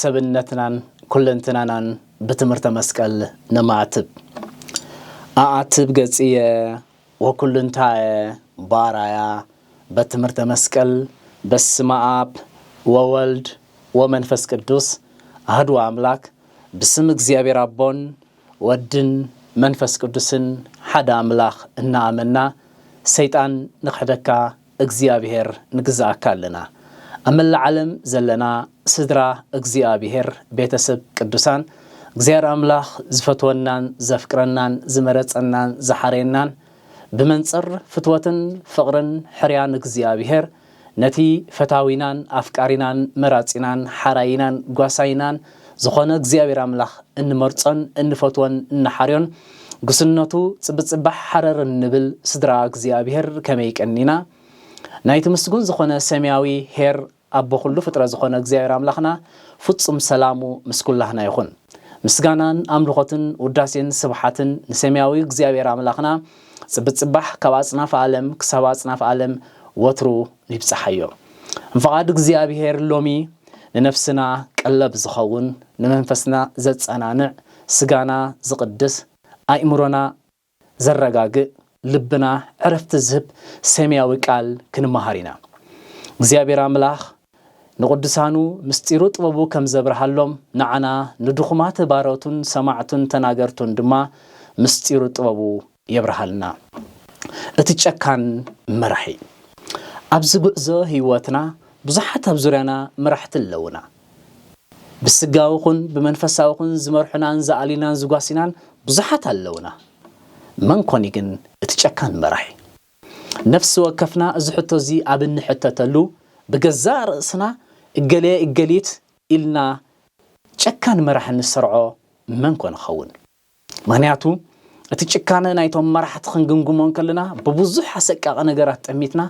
ሰብነትናን ኩለንትናናን ብትምህርተ መስቀል ነማዕትብ። ኣኣትብ ገጽየ ወኩሉንታየ በኣርኣያ በትምህርተ መስቀል በስመ ኣብ ወወልድ ወመንፈስ ቅዱስ ኣህዱ ኣምላክ ብስም እግዚኣብሔር ኣቦን ወድን መንፈስ ቅዱስን ሓደ ኣምላክ እናኣመና ሰይጣን ንክሕደካ እግዚኣብሔር ንግዝኣካ ኣለና ኣብ መላእ ዓለም ዘለና ስድራ እግዚኣብሔር ቤተሰብ ቅዱሳን እግዚኣብሔር ኣምላክ ዝፈትወናን ዘፍቅረናን ዝመረጸናን ዝሓረየናን ብመንጽር ፍትወትን ፍቅርን ሕርያን እግዚኣብሔር ነቲ ፈታዊናን ኣፍቃሪናን መራጺናን ሓራይናን ጓሳይናን ዝኾነ እግዚኣብሔር ኣምላኽ እንመርጾን እንፈትዎን እንሓርዮን ጉስነቱ ጽብጽባሕ ሓረር እንብል ስድራ እግዚኣብሔር ከመይ ቀኒና ናይቲ ምስጉን ዝኾነ ሰማያዊ ኄር ኣቦ ኩሉ ፍጥረት ዝኾነ እግዚኣብሔር ኣምላኽና ፍጹም ሰላሙ ምስ ኩላህና ይኹን። ምስጋናን ኣምልኾትን ውዳሴን ስብሓትን ንሰማያዊ እግዚኣብሔር ኣምላኽና ጽብጽባሕ ካብ ኣጽናፍ ኣለም ክሳብ ኣጽናፍ ኣለም ወትሩ ይብጻሓዮ እንፍቓድ እግዚኣብሄር ሎሚ ንነፍስና ቀለብ ዝኸውን ንመንፈስና ዘጸናንዕ ስጋና ዝቕድስ ኣእምሮና ዘረጋግእ ልብና ዕረፍቲ ዝህብ ሰምያዊ ቃል ክንመሃር ኢና እግዚኣብሄር ኣምላኽ ንቕዱሳኑ ምስጢሩ ጥበቡ ከም ዘብርሃሎም ንዓና ንድኹማት ባሮቱን ሰማዕቱን ተናገርቱን ድማ ምስጢሩ ጥበቡ የብርሃልና እቲ ጨካን መራሒ። ኣብዚ ጉዕዞ ህይወትና ብዙሓት ኣብ ዙርያና መራሕቲ ኣለዉና። ብስጋዊ ኹን ብመንፈሳዊ ኹን ዝመርሑናን ዝኣልዩናን ዝጓስዩናን ብዙሓት ኣለዉና። መን ኮን እዩ ግን እቲ ጨካን መራሒ? ነፍሲ ወከፍና እዚ ሕቶ እዚ ኣብ እንሕተተሉ ብገዛእ ርእስና እገለ እገሊት ኢልና ጨካን መራሒ እንሰርዖ መን ኮን ይኸውን? ምኽንያቱ እቲ ጭካነ ናይቶም መራሕቲ ክንግምግሞ እንከለና ብብዙሕ ኣሰቃቂ ነገራት ጠሚትና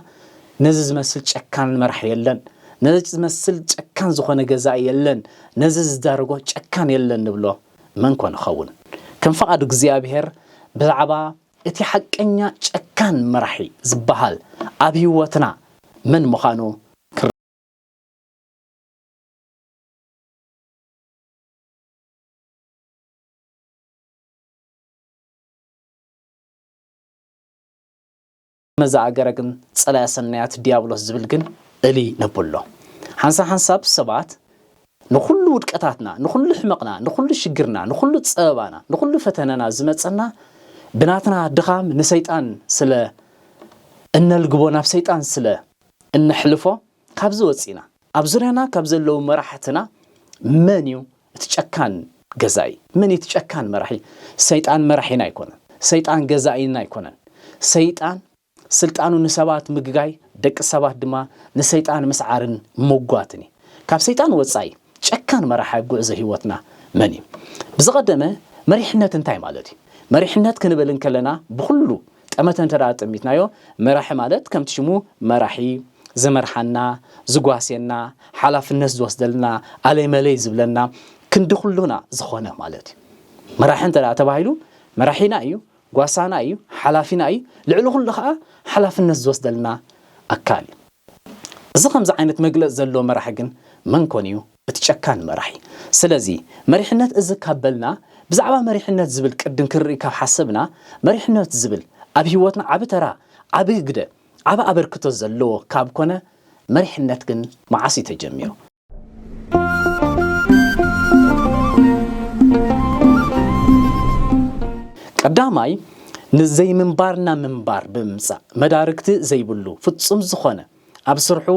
ነዚ ዝመስል ጨካን መራሒ የለን፣ ነዚ ዝመስል ጨካን ዝኾነ ገዛኢ የለን፣ ነዚ ዝዳረጎ ጨካን የለን ንብሎ መን ኮን ይኸውን? ከም ፍቓድ እግዚኣብሄር ብዛዕባ እቲ ሓቀኛ ጨካን መራሒ ዝበሃል ኣብ ህይወትና መን ምዃኑ መዛ ኣገረ ግን ጸላያ ሰናያት ድያብሎስ ዝብል ግን እልይ ነብሎ። ሓንሳ ሓንሳብ ሰባት ንኹሉ ውድቀታትና፣ ንኹሉ ሕመቕና፣ ንኹሉ ሽግርና፣ ንኹሉ ጸበባና፣ ንኹሉ ፈተነና ዝመጸና ብናትና ድኻም ንሰይጣን ስለ እነልግቦ ናብ ሰይጣን ስለ እነሕልፎ ካብዚ ወጺእና ኣብ ዙርያና ካብ ዘለዉ መራሕትና መን እዩ እቲ ጨካን ገዛኢ? መን እዩ እቲ ጨካን መራሒ? ሰይጣን መራሒና ኣይኮነን። ሰይጣን ገዛኢና ኣይኮነን። ሰይጣን ስልጣኑ ንሰባት ምግጋይ፣ ደቂ ሰባት ድማ ንሰይጣን ምስዓርን ምጕጓትን እዩ። ካብ ሰይጣን ወጻኢ ጨካን መራሒ ኣብ ጕዕዞ ህይወትና መን እዩ? ብዝቐደመ መሪሕነት እንታይ ማለት እዩ? መሪሕነት ክንብል እንከለና ብዅሉ ጠመተ እንተ ኣጠሚትናዮ፣ መራሒ ማለት ከምቲ ሽሙ መራሒ፣ ዝመርሓና፣ ዝጓስየና፣ ሓላፍነት ዝወስደልና፣ ኣለይ መለይ ዝብለና፣ ክንዲ ኩሉና ዝኾነ ማለት እዩ። መራሒ እንተ ተባሂሉ መራሒና እዩ፣ ጓሳና እዩ፣ ሓላፊና እዩ፣ ልዕሊ ኩሉ ከኣ ሓላፍነት ዝወስደልና ኣካል እዩ። እዚ ከምዚ ዓይነት መግለጺ ዘለዎ መራሒ ግን መን ኮን እዩ? እቲ ጨካን መራሒ። ስለዚ መሪሕነት እዚ ካብ በልና ብዛዕባ መሪሕነት ዝብል ቅድም ክንርኢ ካብ ሓሰብና መሪሕነት ዝብል ኣብ ሂወትና ዓቢ ተራ ዓቢ ግደ ዓቢ ኣበርክቶ ዘለዎ ካብ ኮነ መሪሕነት ግን መዓስ እዩ ተጀሚሩ? ቀዳማይ ንዘይምንባርና ምንባር ብምምጻእ መዳርግቲ ዘይብሉ ፍጹም ዝኾነ። ኣብ ስርሑ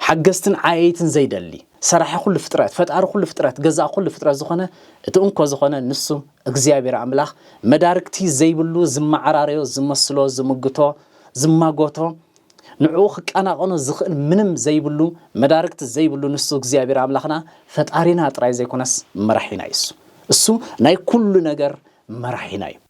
ሓገዝትን ዓየይትን ዘይደሊ፣ ሰራሒ ኩሉ ፍጥረት፣ ፈጣሪ ኩሉ ፍጥረት፣ ገዛእ ኩሉ ፍጥረት ዝኾነ እቲ እንኮ ዝኾነ ንሱ እግዚኣብሔር ኣምላኽ መዳርግቲ ዘይብሉ ዝመዓራረዮ፣ ዝመስሎ፣ ዝምግቶ፣ ዝማጎቶ፣ ንዕኡ ክቀናቐኖ ዝኽእል ምንም ዘይብሉ፣ መዳርግቲ ዘይብሉ ንሱ እግዚኣብሔር ኣምላኽና ፈጣሪና ጥራይ ዘይኮነስ መራሒና እዩ። እሱ ናይ ኩሉ ነገር መራሒና እዩ።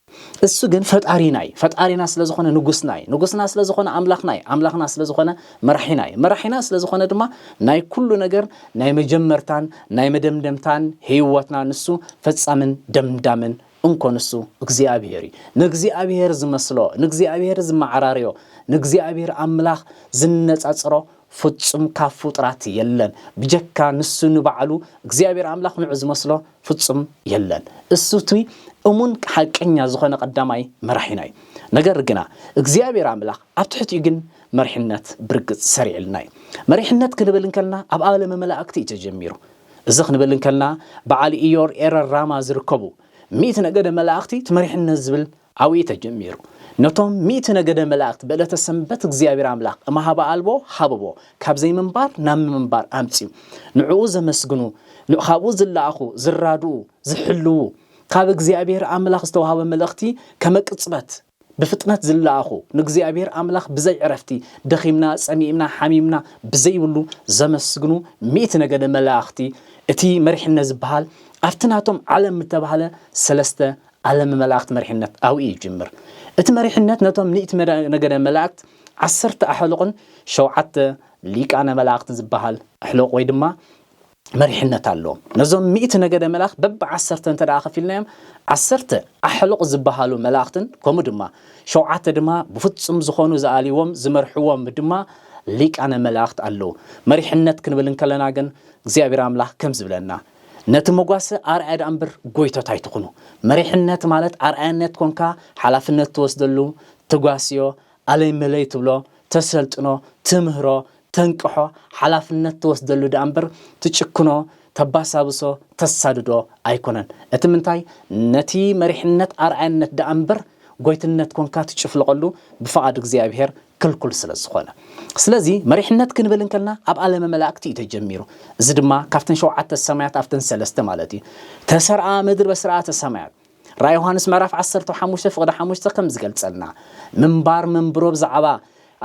እሱ ግን ፈጣሪና እዩ ፈጣሪና ስለ ዝኾነ ንጉስና እዩ ንጉስና ስለ ዝኾነ ኣምላኽና እዩ ኣምላኽና ስለ ዝኾነ መራሒና እዩ መራሒና ስለ ዝኾነ ድማ ናይ ኩሉ ነገር ናይ መጀመርታን ናይ መደምደምታን ህይወትና ንሱ ፈጻምን ደምዳምን እንኮ ንሱ እግዚኣብሄር እዩ ንእግዚኣብሄር ዝመስሎ ንእግዚኣብሄር ዝመዓራርዮ ንእግዚኣብሄር ኣምላኽ ዝነጻጽሮ ፍጹም ካብ ፍጡራት የለን ብጀካ ንሱ ንባዕሉ እግዚኣብሔር ኣምላክ ንዑ ዝመስሎ ፍጹም የለን እሱ እቱይ እሙን ሓቀኛ ዝኾነ ቀዳማይ መራሒና እዩ ነገር ግና እግዚኣብሔር ኣምላክ ኣብ ትሕቲኡ ግን መሪሕነት ብርግጽ ሰሪዕልና እዩ መሪሕነት ክንብል እንከልና ኣብ ዓለመ መላእክቲ እዩ ተጀሚሩ እዚ ክንብል እንከልና በዓል ኢዮር ኤረር ራማ ዝርከቡ ሚእቲ ነገደ መላእክቲ ትመሪሕነት ዝብል ኣብኡ እዩ ተጀሚሩ ነቶም ሚእቲ ነገደ መላእክት ብዕለተ ሰንበት እግዚኣብሔር ኣምላክ እምሃበ ኣልቦ ሃበቦ ካብ ዘይምንባር ናብ ምምንባር ኣምጺኡ ንዕኡ ዘመስግኑ ካብኡ ዝለኣኹ ዝራድኡ ዝሕልዉ ካብ እግዚኣብሔር ኣምላክ ዝተዋህበ መልእክቲ ከመቅጽበት ብፍጥነት ዝለኣኹ ንእግዚኣብሔር ኣምላክ ብዘይ ዕረፍቲ ደኺምና ጸሚእምና ሓሚምና ብዘይብሉ ዘመስግኑ ሚእቲ ነገደ መላእክቲ እቲ መሪሕነት ዝበሃል ኣብቲ ናቶም ዓለም እተባህለ ሰለስተ ዓለም መላእክት መሪሕነት ኣብኡ እዩ ዝጅምር። እቲ መሪሕነት ነቶም ሚእቲ ነገደ መላእክት ዓሰርተ ኣሕሉቕን ሸውዓተ ሊቃነ መላእክትን ዝበሃል ኣሕሉቕ ወይ ድማ መሪሕነት ኣለዎም። ነዞም ሚእቲ ነገደ መላእክት በቢ ዓሰርተ እንተ ደኣ ከፊልናዮም ዓሰርተ ኣሕሉቕ ዝበሃሉ መላእክትን ከምኡ ድማ ሸውዓተ ድማ ብፍጹም ዝኾኑ ዝኣልይዎም ዝመርሕዎም ድማ ሊቃነ መላእክት ኣለዉ። መሪሕነት ክንብል እንከለና ግን እግዚኣብሔር ኣምላኽ ከምዚ ይብለና። ነቲ መጓሰ ኣርኣያ ደኣ እምበር ጎይቶት ኣይትኹኑ። መሪሕነት ማለት ኣርኣያነት ኮንካ ሓላፍነት ትወስደሉ፣ ተጓስዮ፣ ኣለይ መለይ ትብሎ፣ ተሰልጥኖ፣ ትምህሮ፣ ተንቅሖ፣ ሓላፍነት ትወስደሉ ደኣ እምበር ትጭክኖ፣ ተባሳብሶ፣ ተሳድዶ ኣይኮነን። እቲ ምንታይ ነቲ መሪሕነት ኣርኣያነት ደኣ እምበር ጎይትነት ኮንካ ትጭፍልቐሉ ብፍቓድ እግዚኣብሄር ክልኩል ስለ ዝኾነ። ስለዚ መሪሕነት ክንብል እንከልና ኣብ ኣለመ መላእክቲ እዩ ተጀሚሩ። እዚ ድማ ካብተን ሸውዓተ ሰማያት ኣብተን ሰለስተ ማለት እዩ። ተሰርኣ ምድር በስርዓተ ሰማያት። ራእይ ዮሃንስ ምዕራፍ ዓሰርተ ሓሙሽተ ፍቕዲ ሓሙሽተ ከም ዝገልጸልና ምንባር መንብሮ ብዛዕባ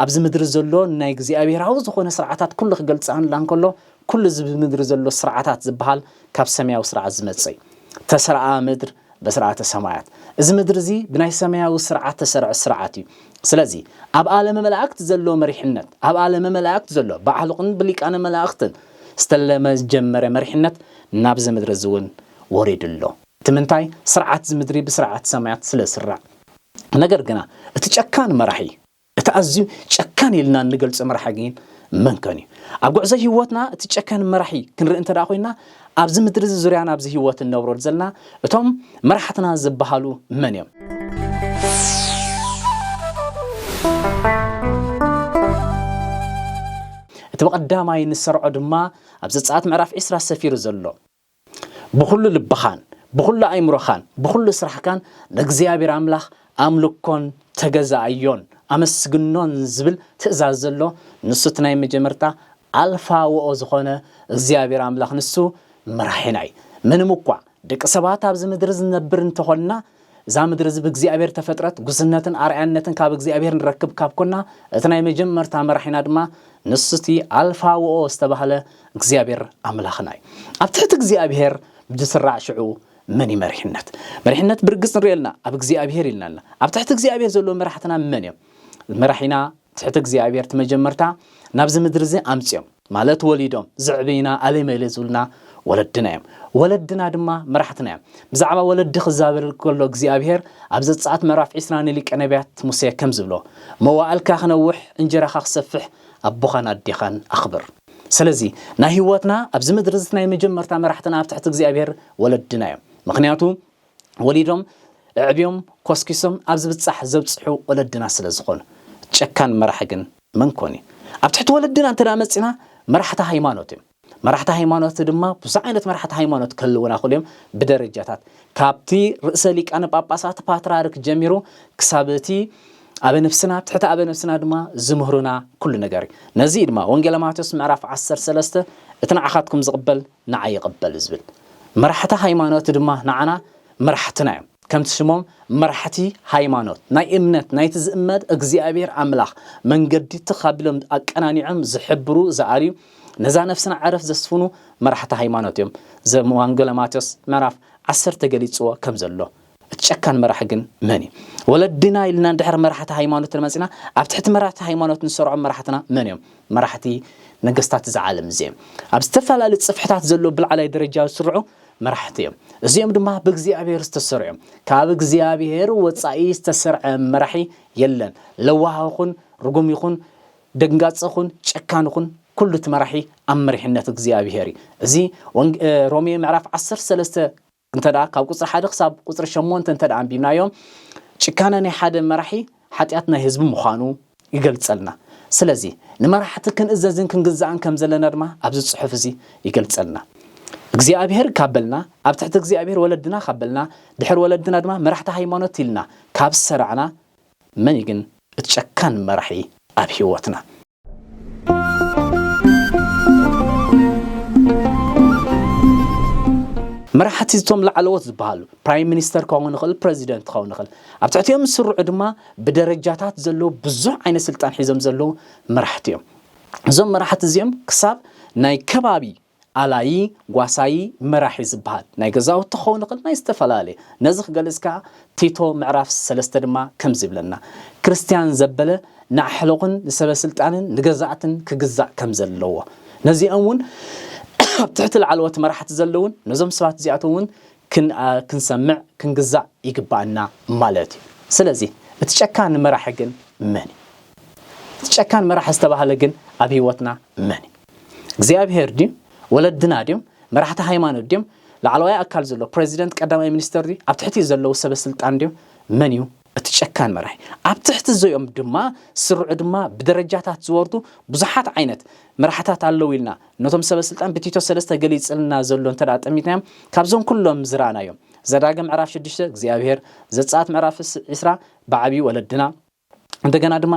ኣብዚ ምድሪ ዘሎ ናይ እግዚኣብሔራዊ ዝኾነ ስርዓታት ኩሉ ክገልጸልና እንከሎ ኩሉ እዚ ብምድሪ ዘሎ ስርዓታት ዝበሃል ካብ ሰማያዊ ስርዓት ዝመጽእ እዩ። ተሰርኣ ምድር በሥርዓተ ሰማያት እዚ ምድሪ እዚ ብናይ ሰማያዊ ሥርዓት ተሠርዐ ሥርዓት እዩ። ስለዚ ኣብ ዓለመ መላእክት ዘሎ መሪሕነት ኣብ ዓለመ መላእክት ዘሎ ብዓልቕን ብሊቃነ መላእክትን ዝተለመ ዝጀመረ መሪሕነት ናብዚ ምድሪ እዚ እውን ወሪዱ ኣሎ። እቲ ምንታይ ሥርዓት እዚ ምድሪ ብሥርዓት ሰማያት ስለ ዝሥራዕ። ነገር ግና እቲ ጨካን መራሒ። እቲ ኣዝዩ ጨካን ኢልና እንገልጾ መራሒ ግን መን ከን እዩ? ኣብ ጉዕዞ ህይወትና እቲ ጨካን መራሒ ክንርኢ እንተ ደኣ ኮይንና፣ ኣብዚ ምድሪ እዚ ዙርያና ኣብዚ ህይወት እንነብረሉ ዘለና እቶም መራሕትና ዝበሃሉ መን እዮም? እቲ ብቐዳማይ እንሰርዖ ድማ ኣብ ዘጸኣት ምዕራፍ ዕስራ ሰፊሩ ዘሎ፣ ብዅሉ ልብኻን ብዅሉ ኣእምሮኻን ብዅሉ ስራሕካን ንእግዚኣብሔር ኣምላኽ ኣምልኮን ተገዛኣዮን ኣመስግኖን ዝብል ትእዛዝ ዘሎ ንሱ እቲ ናይ መጀመርታ ኣልፋ ወኦ ዝኾነ እግዚኣብሔር ኣምላኽ ንሱ መራሒና እዩ። ምንም እኳ ደቂ ሰባት ኣብዚ ምድሪ ዝነብር እንተኾንና እዛ ምድሪ እዚ ብእግዚኣብሔር ተፈጥረት ጉስነትን ኣርኣያነትን ካብ እግዚኣብሔር ንረክብ ካብ ኮና እቲ ናይ መጀመርታ መራሒና ድማ ንሱ እቲ ኣልፋ ወኦ ዝተባህለ እግዚኣብሔር ኣምላኽና እዩ ኣብ ትሕቲ እግዚኣብሔር ብዝስራዕ ሽዑ መን እዩ መሪሕነት መሪሕነት ብርግፅ ንሪኦ ኣለና ኣብ እግዚኣብሔር ኢልናልና ኣብ ትሕቲ እግዚኣብሔር ዘለዎ መራሕትና መን እዮም መራሒና ትሕቲ እግዚኣብሔር ትመጀመርታ ናብዚ ምድሪ እዚ ኣምጺኦም ማለት ወሊዶም ዘዕበዩና ኣሌመሌ ዝብሉና ወለድና እዮም ወለድና ድማ መራሕትና እዮም ብዛዕባ ወለዲ ክዛበል ከሎ እግዚኣብሔር ኣብ ዘጸኣት ምዕራፍ ዒስራ ንሊቀ ነቢያት ሙሴ ከም ዝብሎ መዋእልካ ክነውሕ እንጀራኻ ክሰፍሕ ኣቦኻን ኣዴኻን ኣኽብር ስለዚ ናይ ህይወትና ኣብዚ ምድሪ እዚ ናይ መጀመርታ መራሕትና ኣብ ትሕቲ እግዚኣብሔር ወለድና እዮም ምክንያቱ ወሊዶም ኣዕብዮም ኮስኪሶም ኣብ ዝብጻሕ ዘብጽሑ ወለድና ስለ ዝኾኑ። ጨካን መራሒ ግን መን ኮን እዩ? ኣብ ትሕቲ ወለድና እንተ መጺና መራሕቲ ሃይማኖት እዮም። መራሕቲ ሃይማኖት ድማ ብዙሕ ዓይነት መራሕቲ ሃይማኖት ክህልዉና ይኽእሉ እዮም ብደረጃታት ካብቲ ርእሰ ሊቃነ ጳጳሳት ፓትርያርክ ጀሚሩ ክሳብ እቲ ኣበ ነፍስና ኣብ ትሕቲ ኣበ ነፍስና ድማ ዝምህሩና ኩሉ ነገር እዩ። ነዚ እዩ ድማ ወንጌለ ማቴዎስ ምዕራፍ ዓሰርተ ሰለስተ እቲ ንዓኻትኩም ዝቕበል ንዓይ ይቕበል ዝብል መራሕቲ ሃይማኖት ድማ ንዓና መራሕትና እዮም። ከምቲ ሽሞም መራሕቲ ሃይማኖት ናይ እምነት ናይቲ ዝእመን እግዚኣብሔር ኣምላኽ መንገዲ ትኽ ኣቢሎም ኣቀናኒዖም ዝሕብሩ ዝኣልዩ ነዛ ነፍስና ዕረፍት ዘስፍኑ መራሕቲ ሃይማኖት እዮም። ዘም ዋንገለ ማቴዎስ ምዕራፍ ዓሰርተ ገሊጽዎ ከም ዘሎ እቲ ጨካን መራሒ ግን መን እዩ? ወለድና ኢልና ድሕሪ መራሕቲ ሃይማኖት እንተመጺና ኣብ ትሕቲ መራሕቲ ሃይማኖት ንሰርዖም መራሕትና መን እዮም? መራሕቲ ነገስታት እዛ ዓለም እዚኣ እዮም። ኣብ ዝተፈላለዩ ጽፍሕታት ዘለዉ ብላዕላይ ደረጃ ዝስርዑ መራሕቲ እዮም። እዚኦም ድማ ብእግዚኣብሔር ዝተሰርዑ እዮም። ካብ እግዚኣብሔር ወጻኢ ዝተሰርዐ መራሒ የለን። ለዋህ ይኹን ርጉም ይኹን ደንጋጽ ይኹን ጨካን ይኹን ኩሉ እቲ መራሒ ኣብ መሪሕነት እግዚኣብሔር እዩ። እዚ ሮሜ ምዕራፍ ዓሰርተ ሰለስተ እንተ ካብ ቁፅሪ ሓደ ክሳብ ቁፅሪ ሸሞንተ እንተ ኣንቢብናዮ ጭካነ ናይ ሓደ መራሒ ሓጢኣት ናይ ህዝቢ ምዃኑ ይገልፀልና። ስለዚ ንመራሕቲ ክንእዘዝን ክንግዛእን ከም ዘለና ድማ ኣብዚ ፅሑፍ እዚ ይገልፀልና። እግዚኣብሔር ካብ በልና ኣብ ትሕቲ እግዚኣብሔር ወለድና ካብ በልና ድሕሪ ወለድና ድማ መራሕቲ ሃይማኖት ኢልና ካብ ዝሰራዕና መን እዩ ግን እቲ ጨካን መራሒ ኣብ ህይወትና? መራሕቲ እቶም ላዕለዎት ዝበሃሉ ፕራይም ሚኒስተር ክኸውን ይኽእል ፕረዚደንት ክኸውን ይኽእል ኣብ ትሕቲኦም ዝስርዑ ድማ ብደረጃታት ዘለዉ ብዙሕ ዓይነት ስልጣን ሒዞም ዘለዉ መራሕቲ እዮም እዞም መራሕቲ እዚኦም ክሳብ ናይ ከባቢ ኣላዪ፣ ጓሳዪ፣ መራሒ ዝበሃል ናይ ገዛውቲ ክኸውን ይኽእል ናይ ዝተፈላለየ ነዚ ክገልጽ ከኣ ቲቶ ምዕራፍ ሰለስተ ድማ ከምዚ ይብለና ክርስትያን ዘበለ ንኣሕሉቕን ንሰበስልጣንን ንገዛእትን ክግዛእ ከም ዘለዎ ነዚኦም እውን ኣብ ትሕቲ ላዕለዎት መራሕቲ ዘለዉን ነዞም ሰባት እዚኣቶም እውን ክንኣ ክንሰምዕ ክንግዛእ ይግባኣና ማለት እዩ ስለዚ እቲ ጨካን መራሒ ግን መን እዩ እቲ ጨካን መራሒ ዝተባህለ ግን ኣብ ህይወትና መን እዩ እግዚኣብሄር ድዩ ወለድና ድዮም መራሕቲ ሃይማኖት ድዮም ላዕለዋይ ኣካል ዘሎ ፕረዚደንት ቀዳማይ ሚኒስተር ድዩ ኣብ ትሕቲኡ ዘለዉ ሰበ ስልጣን ድዮም መን እዩ እቲ ጨካን መራሒ ኣብ ትሕቲ ዘኦም ድማ ስርዑ ድማ ብደረጃታት ዝወርዱ ብዙሓት ዓይነት መራሕታት ኣለዉ ኢልና ነቶም ሰበ ስልጣን ብቲቶ ሰለስተ ገሊጽልና ዘሎ እንተ ጠሚትናዮም ካብዞም ኩሎም ዝረኣናዮም ዘዳግም ምዕራፍ ሽዱሽተ እግዚኣብሄር ዘጻት ምዕራፍ ዕስራ ብዓብዪ ወለድና እንደገና ድማ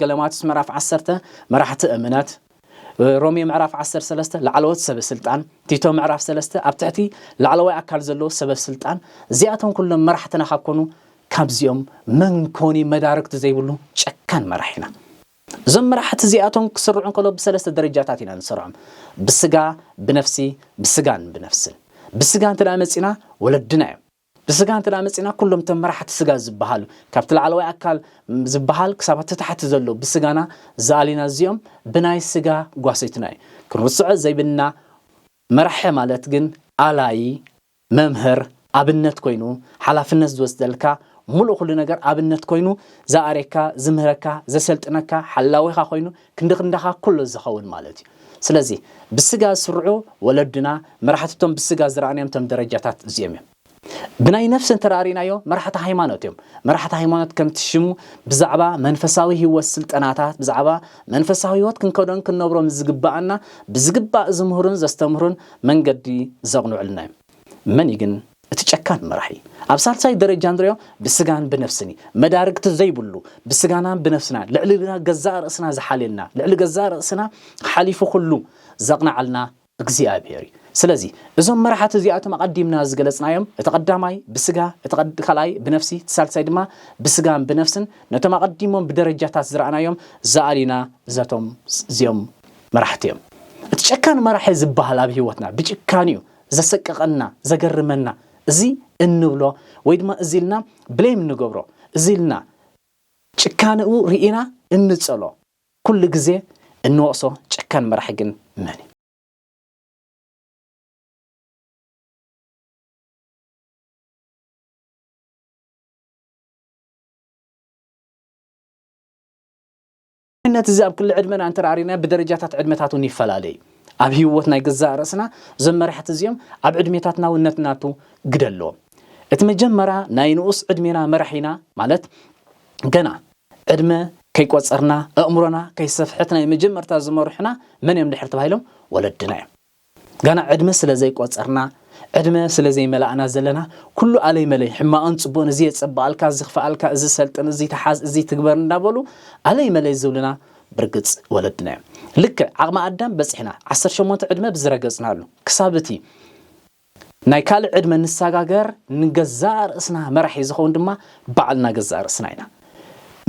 ገለማትስ ምዕራፍ ዓሰርተ መራሕቲ እምነት ሮሜ ምዕራፍ ዓሰር ሰለስተ ላዕለዎት ሰበ ስልጣን ቲቶ ምዕራፍ ሰለስተ ኣብ ትሕቲ ላዕለዋይ ኣካል ዘለዎ ሰበ ስልጣን እዚኣቶም ኩሎም መራሕትና ካብ ኮኑ ካብዚኦም መን ኮኒ መዳርግቲ ዘይብሉ ጨካን መራሕ ኢና እዞም መራሕቲ እዚኣቶም ክስርዑ እንከሎ ብሰለስተ ደረጃታት ኢና ንሰርዖም ብስጋ ብነፍሲ ብስጋን ብነፍስን ብስጋ እንተ መፂና ወለድና እዮም ብስጋ እንተ መጺእና ኩሎም እቶም መራሕቲ ስጋ ዝበሃሉ ካብቲ ላዕለዋይ ኣካል ዝበሃል ክሳብ ኣቲ ታሕቲ ዘሎ ብስጋና ዝኣሊና እዚኦም ብናይ ስጋ ጓሰይትና እዩ ክንርስዖ ዘይብልና መራሒ ማለት ግን ኣላዪ መምህር ኣብነት ኮይኑ ሓላፍነት ዝወስደልካ ሙሉእ ኩሉ ነገር ኣብነት ኮይኑ ዝኣርየካ ዝምህረካ ዘሰልጥነካ ሓላዊኻ ኮይኑ ክንዲ ክንዳኻ ኩሉ ዝኸውን ማለት እዩ። ስለዚ ብስጋ ዝስርዑ ወለድና መራሕቲ'ቶም ብስጋ ዝረኣናዮም እቶም ደረጃታት እዚኦም እዮም። ብናይ ነፍሲ እንተራእሪናዮ መራሕቲ ሃይማኖት እዮም። መራሕቲ ሃይማኖት ከምቲ ሽሙ ብዛዕባ መንፈሳዊ ሕይወት ስልጠናታት ብዛዕባ መንፈሳዊ ሕይወት ክንከዶን ክንነብሮም ዝግበኣና ብዝግባእ ዝምህሩን ዘስተምህሩን መንገዲ ዘቕንዑልና እዮም። መን እዩ ግን እቲ ጨካን መራሒ? ኣብ ሳልሳይ ደረጃ ንሪኦ ብስጋን ብነፍስን እዩ። መዳርግቲ ዘይብሉ ብስጋናን ብነፍስናን ልዕሊ ገዛእ ርእስና ዝሓልየና፣ ልዕሊ ገዛእ ርእስና ሓሊፉ ኩሉ ዘቕንዓልና እግዚኣብሄር እዩ። ስለዚ እዞም መራሕቲ እዚኣቶም ኣቐዲምና ዝገለጽናዮም እቲ ቀዳማይ ብስጋ፣ እቲ ካልኣይ ብነፍሲ፣ እቲ ሳልሳይ ድማ ብስጋን ብነፍስን ነቶም ኣቐዲሞም ብደረጃታት ዝረኣናዮም ዝኣሊና እዘቶም እዚኦም መራሕቲ እዮም እቲ ጨካን መራሒ ዝበሃል ኣብ ሂወትና ብጭካንኡ ዘሰቀቀና ዘገርመና እዚ እንብሎ ወይ ድማ እዚ ኢልና ብሌም እንገብሮ እዚ ኢልና ጭካንኡ ሪኢና እንጸሎ ኩሉ ግዜ እንወቅሶ ጨካን መራሒ ግን መን እዩ? ንኣብነት እዚ ኣብ ክሊ ዕድመና እንተራእሪናዮ ብደረጃታት ዕድመታት እውን ይፈላለ እዩ። ኣብ ህይወት ናይ ገዛእ ርእስና እዞም መራሕቲ እዚኦም ኣብ ዕድሜታትና እውን ነትናቱ ግደ ኣለዎም። እቲ መጀመራ ናይ ንኡስ ዕድሜና መራሒና ማለት ገና ዕድመ ከይቆጸርና ኣእምሮና ከይሰፍሐት ናይ መጀመርታ ዝመርሑና መን እዮም ድሕሪ ተባሂሎም ወለድና እዮም። ገና ዕድመ ስለ ዘይቆጸርና ዕድመ ስለ ዘይመላእና ዘለና ኩሉ ኣለይ መለይ ሕማቕን ጽቡቕን እዚ የጸብቓልካ እዚ ክፍኣልካ እዚ ሰልጥን እዚ ተሓዝ እዚ ትግበር እንዳበሉ ኣለይ መለይ ዝብሉና ብርግጽ ወለድና እዮም ልክዕ ዓቕሚ ኣዳም በጺሕና ዓሰርተ ሸሞንተ ዕድመ ብዝረገጽናሉ ክሳብ እቲ ናይ ካልእ ዕድመ ንሳጋገር ንገዛእ ርእስና መራሒ ዝኸውን ድማ ባዕልና ገዛእ ርእስና ኢና።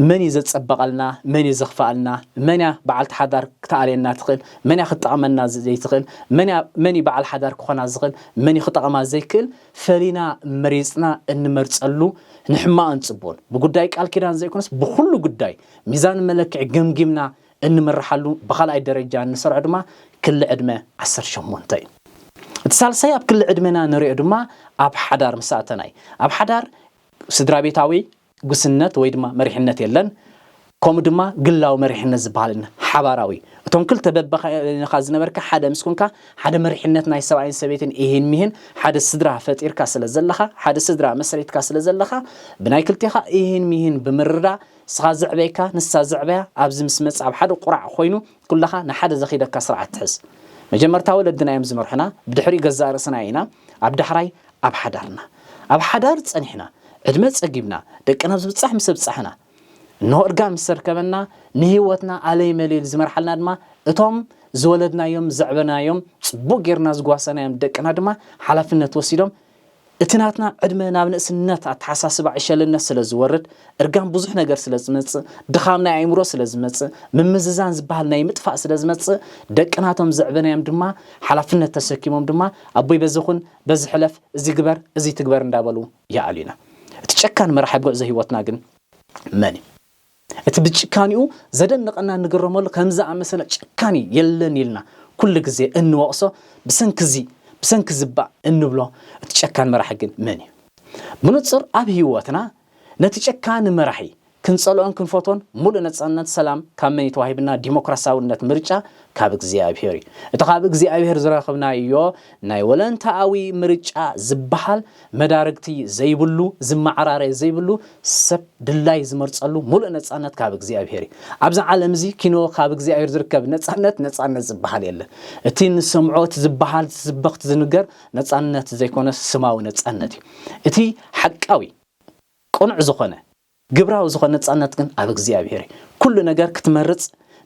መን እዩ ዘጸበቐልና መን እዩ ዘኽፈኣልና፣ መንያ በዓልቲ ሓዳር ክትኣልየና ትኽእል፣ መንያ ክትጠቕመና ዘይትኽእል፣ መንያ መን እዩ በዓል ሓዳር ክኾና ዝኽእል መን እዩ ክጠቕማ ዘይክእል ፈሊና መሪጽና እንመርጸሉ ንሕማቕን ጽቡቕን ብጉዳይ ቃል ኪዳን ዘይኮነስ ብኹሉ ጉዳይ ሚዛን መለክዒ ገምጊምና እንምርሓሉ ብኻልኣይ ደረጃ እንሰርዖ ድማ ክሊ ዕድመ ዓሰርተ ሸሞንተ እዩ። እቲ ሳልሳይ ኣብ ክሊ ዕድመና ንሪኦ ድማ ኣብ ሓዳር ምስ ኣተና እዩ። ኣብ ሓዳር ስድራቤታዊ ጉስነት ወይ ድማ መሪሕነት የለን። ከምኡ ድማ ግላዊ መሪሕነት ዝበሃል የለን። ሓባራዊ እዩ። እቶም ክልተ በበይንኻ ዝነበርካ ሓደ ምስ ኮንካ ሓደ መሪሕነት ናይ ሰብኣይን ሰበይትን ኢሂን ሚሂን ሓደ ስድራ ፈጢርካ ስለ ዘለኻ ሓደ ስድራ መስሪትካ ስለ ዘለኻ ብናይ ክልቴኻ ኢሂን ሚሂን ብምርዳእ ንስኻ ዘዕበይካ ንሳ ዘዕበያ ኣብዚ ምስ መጸ ኣብ ሓደ ቁራዕ ኮይኑ ኩላኻ ንሓደ ዘኺደካ ስርዓት ትሕዝ። መጀመርታ ወለድና እዮም ዝመርሑና ብድሕሪኡ ገዛእ ርእስና ኢና ኣብ ዳሕራይ ኣብ ሓዳርና። ኣብ ሓዳር ጸኒሕና ዕድመ ጸጊብና ደቂ ናብ ዝብጻሕ ምስ ኣብጻሕና እንሆ እርጋን ምስ ኣርከበና ንህይወትና ኣለይ መለይል ዝመርሓልና ድማ እቶም ዝወለድናዮም ዘዕበናዮም ጽቡቕ ጌርና ዝጓሰናዮም ደቅና ድማ ሓላፍነት ወሲዶም እቲ ናትና ዕድመ ናብ ንእስነት ኣተሓሳስባ ዕሸልነት ስለ ዝወርድ፣ እርጋን ብዙሕ ነገር ስለ ዝመጽእ፣ ድኻም ናይ ኣእምሮ ስለ ዝመጽእ፣ ምምዝዛን ዝበሃል ናይ ምጥፋእ ስለ ዝመጽእ፣ ደቅና እቶም ዘዕበናዮም ድማ ሓላፍነት ተሰኪሞም ድማ ኣቦይ በዚ ኩን፣ በዚ ሕለፍ፣ እዚ ግበር፣ እዚ ኣይትግበር እንዳበሉ ይኣልዩና። እቲ ጨካን መራሒ ጉዕዞ ህይወትና ግን መን እዩ? እቲ ብጭካኒኡ ዘደንቐና እንግረመሉ ከምዚ ዝኣመሰለ ጨካኒ የለን ኢልና ኩሉ ግዜ እንወቕሶ ብሰንኪ እዚ ብሰንኪ እዚ እባ እንብሎ እቲ ጨካን መራሒ ግን መን እዩ? ብንጹር ኣብ ህይወትና ነቲ ጨካኒ መራሒ ክንጸልኦን ክንፈትዎን ምሉእ ነጻነት ሰላም ካብ መን እዩ ተዋሂብና? ዲሞክራሲያዊነት ምርጫ ካብ እግዚኣብሄር እዩ። እቲ ካብ እግዚኣብሄር ዝረኽብናዮ ናይ ወለንታኣዊ ምርጫ ዝበሃል መዳርግቲ ዘይብሉ፣ ዝመዓራረ ዘይብሉ፣ ሰብ ድላይ ዝመርጸሉ ምሉእ ነጻነት ካብ እግዚኣብሄር እዩ። ኣብዚ ዓለም እዚ ኪኖ ካብ እግዚኣብሄር ዝርከብ ነጻነት ነጻነት ዝበሃል የለን። እቲ እንሰምዖ እቲ ዝበሃል ዝስበኽ እቲ ዝንገር ነጻነት ዘይኮነስ ስማዊ ነጻነት እዩ። እቲ ሓቃዊ ቅኑዕ ዝኾነ። ግብራዊ ዝኾነ ነጻነት ግን ኣብ እግዚኣብሔር እዩ። ኩሉ ነገር ክትመርጽ፣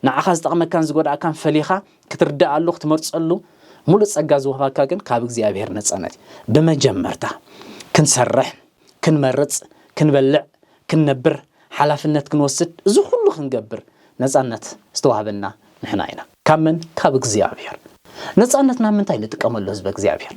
ንዓኻ ዝጠቕመካን ዝጎድኣካን ፈሊኻ ክትርድኣሉ ክትመርጸሉ ሙሉእ ጸጋ ዝወሃበካ ግን ካብ እግዚኣብሔር ነጻነት እዩ። ብመጀመርታ ክንሰርሕ፣ ክንመርጽ፣ ክንበልዕ፣ ክንነብር፣ ሓላፍነት ክንወስድ እዚ ኩሉ ክንገብር ነጻነት ዝተዋህበና ንሕና ኢና። ካብ መን ካብ እግዚኣብሔር። ነጻነት ናብ ምንታይ ንጥቀመሉ ህዝበ እግዚኣብሔር።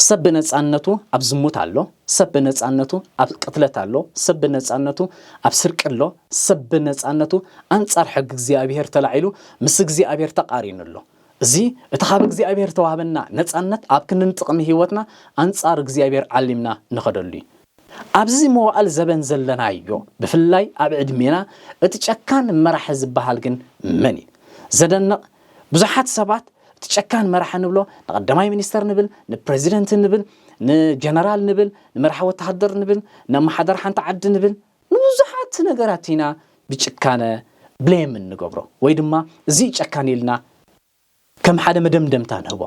ሰብ ብነጻነቱ ኣብ ዝሙት ኣሎ፣ ሰብ ብነጻነቱ ኣብ ቅትለት ኣሎ፣ ሰብ ብነጻነቱ ኣብ ስርቂ ኣሎ፣ ሰብ ብነጻነቱ ኣንጻር ሕጊ እግዚኣብሔር ተላዒሉ ምስ እግዚኣብሔር ተቃሪኑ ኣሎ። እዚ እቲ ካብ እግዚኣብሔር ዝተዋህበና ነጻነት ኣብ ክንዲ ንጥቅሚ ህይወትና ኣንጻር እግዚኣብሔር ዓሊምና ንኸደሉ እዩ። ኣብዚ መዋእል ዘበን ዘለናዮ ብፍላይ ኣብ ዕድሜና እቲ ጨካን መራሒ ዝበሃል ግን መን እዩ? ዘደንቕ ብዙሓት ሰባት እቲ ጨካን መራሒ ንብሎ ንቐዳማይ ሚኒስተር ንብል፣ ንፕረዚደንት ንብል፣ ንጀነራል ንብል፣ ንመራሒ ወተሃደር ንብል፣ ንኣመሓዳሪ ሓንቲ ዓዲ ንብል፣ ንብዙሓት ነገራት ኢና ብጭካነ ብሌም እንገብሮ ወይ ድማ እዚ እዩ ጨካን ኢልና ከም ሓደ መደምደምታ ንህቦ።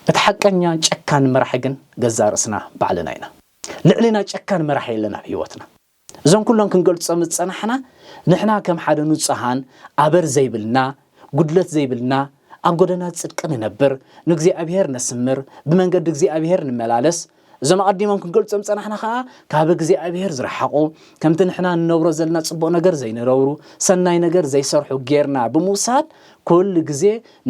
እቲ ሓቀኛ ጨካን መራሒ ግን ገዛእ ርእስና ባዕልና ኢና። ልዕሌና ጨካን መራሒ የለን ኣብ ህይወትና። እዞም ኩሎም ክንገልጾም ዝጸናሕና ንሕና ከም ሓደ ንጹሃን ኣበር ዘይብልና፣ ጉድለት ዘይብልና፣ ኣብ ጎደና ጽድቂ ንነብር፣ ንእግዚኣብሄር ነስምር፣ ብመንገዲ እግዚኣብሄር ንመላለስ፣ እዞም ኣቐዲሞም ክንገልጾም ጸናሕና ኸኣ ካብ እግዚኣብሔር ዝረሓቑ ከምቲ ንሕና ንነብሮ ዘለና ጽቡቕ ነገር ዘይንረብሩ ሰናይ ነገር ዘይሰርሑ ጌርና ብምውሳድ ኩሉ ግዜ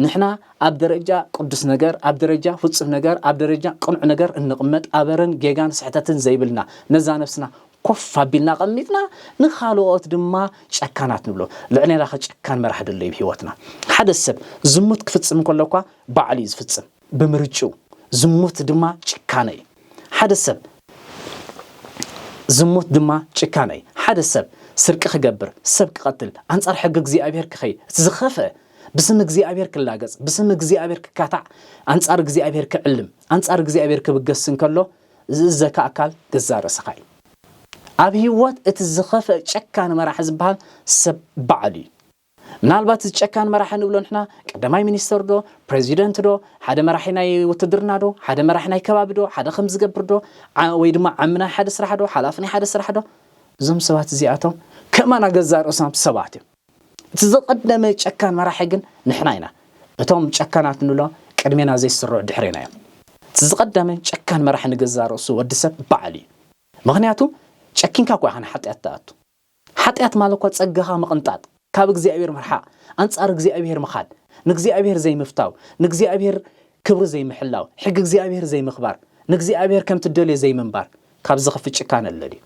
ንሕና ኣብ ደረጃ ቅዱስ ነገር ኣብ ደረጃ ፍጹም ነገር ኣብ ደረጃ ቅኑዕ ነገር እንቕመጥ ኣበረን ጌጋን ስሕተትን ዘይብልና ነዛ ነፍስና ኮፍ ኣቢልና ቀሚጥና ንካልኦት ድማ ጨካናት ንብሎ ልዕሌና ከጨካን መራሕ ደሎ እዩ ህይወትና ሓደ ሰብ ዝሙት ክፍጽም ከሎ እኳ ባዕሉ እዩ ዝፍጽም ብምርጭው ዝሙት ድማ ጭካነ እዩ። ሓደ ሰብ ዝሙት ድማ ጭካነ እዩ። ሓደ ሰብ ስርቂ ክገብር፣ ሰብ ክቐትል፣ ኣንጻር ሕጊ እግዚኣብሄር ክኸይድ፣ እቲ ዝኸፍአ ብስም እግዚኣብሄር ክላገጽ፣ ብስም እግዚኣብሄር ክካታዕ፣ ኣንጻር እግዚኣብሄር ክዕልም፣ ኣንጻር እግዚኣብሄር ክብገስ እንከሎ ዝእዘካ ኣካል ገዛእ ርእስኻ እዩ። ኣብ ህይወት እቲ ዝኸፍአ ጨካን መራሒ ዝበሃል ሰብ ባዕሉ እዩ። ምናልባት እዚ ጨካን መራሒ ንብሎ ንሕና ቀዳማይ ሚኒስተር ዶ ፕረዚደንት ዶ ሓደ መራሒ ናይ ውትድርና ዶ ሓደ መራሒ ናይ ከባቢ ዶ ሓደ ከምዚ ዝገብር ዶ ወይ ድማ ዓሚ ናይ ሓደ ስራሕ ዶ ሓላፊ ናይ ሓደ ስራሕ ዶ እዞም ሰባት እዚኣቶም ከማና ገዛእ ርእሶም ሰባት እዮም እቲ ዝቐደመ ጨካን መራሒ ግን ንሕና ኢና እቶም ጨካናት ንብሎ ቅድሜና ዘይስርዑ ድሕሬና እዮም እቲ ዝቐደመ ጨካን መራሒ ንገዛእ ርእሱ ወዲ ሰብ በዓል እዩ ምክንያቱ ጨኪንካ እኳ ኢኻ ንሓጢኣት ትኣቱ ሓጢኣት ማለትኳ ጸጋኻ ምቕንጣጥ፣ ካብ እግዚኣብሔር ምርሓቕ፣ ኣንጻር እግዚኣብሔር ምኻድ፣ ንእግዚኣብሔር ዘይምፍታው፣ ንእግዚኣብሔር ክብሪ ዘይምሕላው፣ ሕጊ እግዚኣብሔር ዘይምኽባር፣ ንእግዚኣብሔር ከምቲ እደልዮ ዘይምንባር፣ ካብ ዝኽፍእ ጭካነ ኣሎ ድዩ?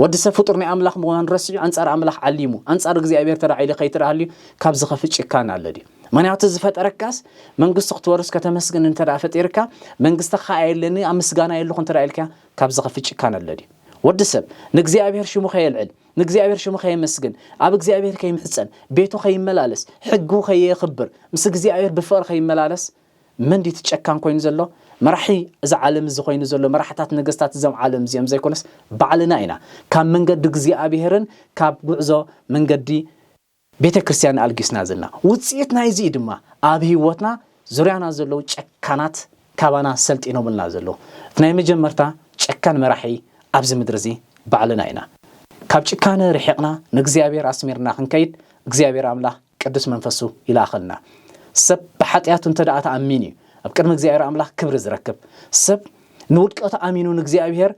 ወዲ ሰብ ፍጡር ናይ ኣምላኽ ምዃኑ ረሲዑ ኣንጻር ኣምላኽ ዓሊሙ፣ ኣንጻር እግዚኣብሔር ተላዒሉ ከይተደሃልዩ ካብ ዝኸፍእ ጭካነ ኣሎ ድዩ? ምኽንያቱ ዝፈጠረካስ መንግስቱ ክትወርስ ከተመስግን እንተደኣ ፈጢርካ መንግስቲ ክኣ የለኒ ኣብ ምስጋና የለኹ እንተደኣ ኢልካ ካብዚ ከፊ ጭካነ ኣሎ ድዩ? ወዲ ሰብ ንእግዚኣብሔር ሽሙ ከየልዕል፣ ንእግዚኣብሔር ሽሙ ከየመስግን፣ ኣብ እግዚኣብሔር ከይምሕጸን፣ ቤቱ ከይመላለስ፣ ሕጉ ከየየኽብር፣ ምስ እግዚኣብሔር ብፍቕሪ ከይመላለስ መን ድዩ እቲ ጨካን ኮይኑ ዘሎ? መራሒ እዚ ዓለም እዚ ኮይኑ ዘሎ መራሕታት ነገስታት እዞም ዓለም እዚኦም ዘይኮነስ ባዕልና ኢና ካብ መንገዲ እግዚኣብሔርን ካብ ጉዕዞ መንገዲ ቤተ ክርስቲያን ኣልጊስና ዘልና። ውጽኢት ናይዚ እዩ ድማ ኣብ ህይወትና ዙርያና ዘለዉ ጨካናት ካባና ሰልጢኖምልና ዘለዉ። እቲ ናይ መጀመርታ ጨካን መራሒ ኣብዚ ምድሪ እዚ ባዕልና ኢና። ካብ ጭካነ ርሒቕና ንእግዚኣብሔር ኣስሚርና ክንከይድ እግዚኣብሔር ኣምላኽ ቅዱስ መንፈሱ ይልኣኸልና። ሰብ ብሓጢኣቱ እንተ ደኣ ተኣሚኑ እዩ ኣብ ቅድሚ እግዚኣብሔር ኣምላኽ ክብሪ ዝረክብ። ሰብ ንውድቀቱ ኣሚኑ ንእግዚኣብሔር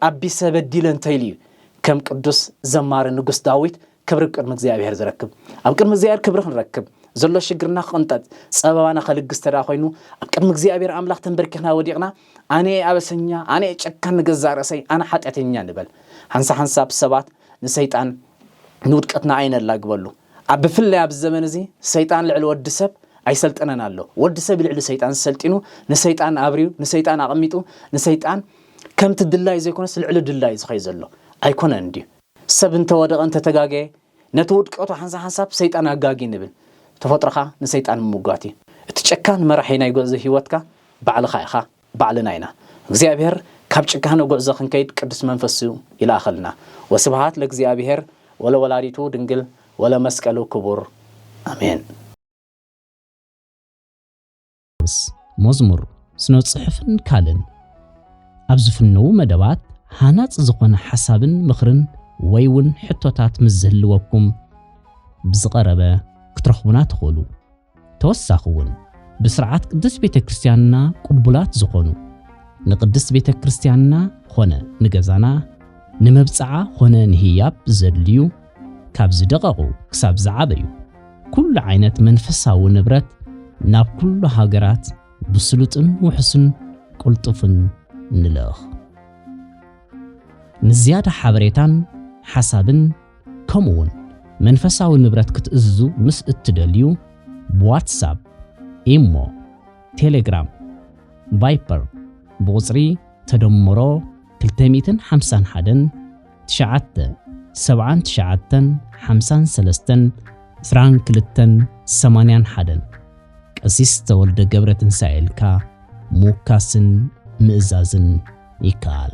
ኣቢሰ በዲለ እንተ ኢሉ እዩ ከም ቅዱስ ዘማሪ ንጉስ ዳዊት ክብሪ ቅድሚ እግዚኣብሔር ዝረክብ። ኣብ ቅድሚ እግዚኣብሔር ክብሪ ክንረክብ፣ ዘሎ ሽግርና ክቕንጠጥ፣ ጸበባና ከልግስ ተደኣ ኮይኑ ኣብ ቅድሚ እግዚኣብሔር ኣምላኽ ተንበርኪኽና ወዲቕና ኣነ እየ ኣበሰኛ፣ ኣነ እየ ጨካን ንገዛእ ርእሰይ፣ ኣነ ሓጢኣተኛ ንበል። ሓንሳ ሓንሳብ ሰባት ንሰይጣን ንውድቀትና ኣይነላግበሉ። ኣብ ብፍላይ ኣብዚ ዘመን እዚ ሰይጣን ልዕሊ ወዲ ሰብ ኣይሰልጠነን ኣሎ። ወዲ ሰብ ልዕሊ ሰይጣን ሰልጢኑ ንሰይጣን ኣብርዩ ንሰይጣን ኣቐሚጡ ንሰይጣን ከምቲ ድላዩ ዘይኮነስ ልዕሊ ድላዩ ዝኸይድ ዘሎ ኣይኮነን ድዩ? ሰብ እንተ ወደቐ እንተ ተጋገየ ነቲ ውድቀቱ ሓንሳብ ሓንሳብ ሰይጣን ኣጋጊ ንብል። ተፈጥሮኻ ንሰይጣን ምምጓት እዩ። እቲ ጨካን መራሒ ናይ ጉዕዞ ህይወትካ ባዕልኻ ኢኻ፣ ባዕልና ኢና። እግዚኣብሔር ካብ ጭካነ ጉዕዞ ክንከይድ ቅዱስ መንፈሱ ይልኣኸልና። ወስብሃት ለእግዚኣብሔር ወለወላዲቱ ድንግል ወለመስቀሉ ክቡር ኣሜን። ምስ መዝሙር፣ ስነ-ጽሑፍን ካልእን ኣብ ዝፍነዉ መደባት ሃናጺ ዝኾነ ሓሳብን ምኽርን ወይ ውን ሕቶታት ምስ ዝህልወኩም ብዝቐረበ ክትረኽቡና ትኽእሉ። ተወሳኺ ውን ብስርዓት ቅድስት ቤተ ክርስቲያንና ቅቡላት ዝኾኑ ንቅድስት ቤተ ክርስቲያንና ኾነ ንገዛና ንመብጽዓ ኾነ ንህያብ ዘድልዩ ካብ ዝደቐቑ ክሳብ ዝዓበዩ ኩሉ ዓይነት መንፈሳዊ ንብረት ናብ ኩሉ ሃገራት ብስሉጥን ውሕሱን ቅልጡፍን ንልእኽ። ንዝያዳ ሓበሬታን ሓሳብን ከምኡ እውን መንፈሳዊ ንብረት ክትእዝዙ ምስ እትደልዩ ብዋትሳፕ፣ ኢሞ፣ ቴሌግራም፣ ቫይፐር ብቑጽሪ ተደምሮ 251 ትሽዓተ፣ ሰብዓን ትሽዓተን፣ ሓምሳን ሰለስተን፣ ዕስራን ክልተን፣ ሰማንያን ሓደን፣ ቀሲስ ተወልደ ገብረትንሳኤ ኢልካ ምውካስን ምእዛዝን ይከኣል።